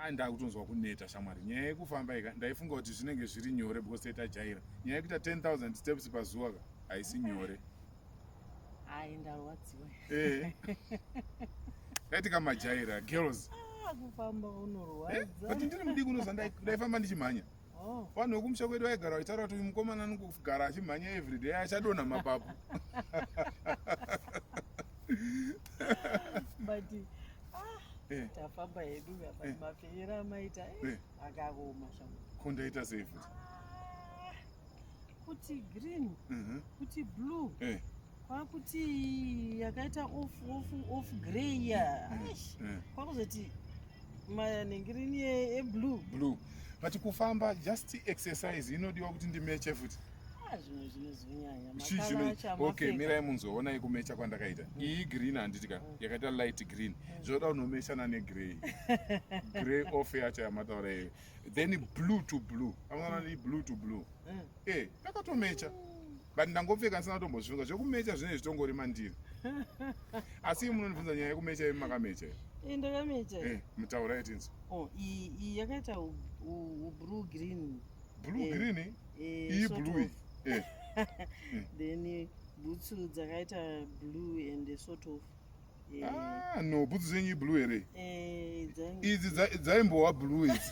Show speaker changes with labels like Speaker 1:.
Speaker 1: a ndakutonzwa kuneta shamwari nyaya yekufamba ika ndaifunga kuti zvinenge zviri nyore because taitajaira nyaya yekuita 10000 steps pazuva ka haisi nyore
Speaker 2: hai ndarwadziwa eh.
Speaker 1: taitika majaira girls ah, kufamba
Speaker 2: unorwadza eh, but ndiri mudiki unozva
Speaker 1: ndaifamba ndichimhanya Oh. vanhu vekumusha kwedu vaigara vachitaura kuti uyu mukomana anokugara achimhanya everyday achadonha mapapu
Speaker 2: but ah, eh. tafamba hedu eh. mafenyera amaita eh. akaoma shambo ko ndaita sei futi
Speaker 1: ah,
Speaker 2: kuti green mhm. kuti blue kwakuti yakaita off off off grey ya kwakuzoti manengirini eblue blue but kufamba
Speaker 1: just exercise inodiwa kuti ndimeche futi ah,
Speaker 2: zvimwe zvinozonyanya okay
Speaker 1: mirai munzoonai kumecha kwandakaita mm. iyi green handiti ka mm. yakaita light green mm. zvoda unomeshana negrey grey off yacho yamataura iyo then blue to blue amwana ni blue to blue e eh, takatomecha but ndangopfeka ndisina kutombozvifunga zvekumecha zvine zvitongori mandiri asi ii munondibvunza nyaya yekumecha imi makamecha eh, ndakamecha eh,
Speaker 2: mutaura yetinzi
Speaker 1: oh, iyi
Speaker 2: yakaita blue green blue eh, green
Speaker 1: iyi blue then
Speaker 2: bhutsu dzakaita blue and sort of Ah,
Speaker 1: no bhutsu dzenyu iblue here idzi dzaimbowa
Speaker 2: blue idzi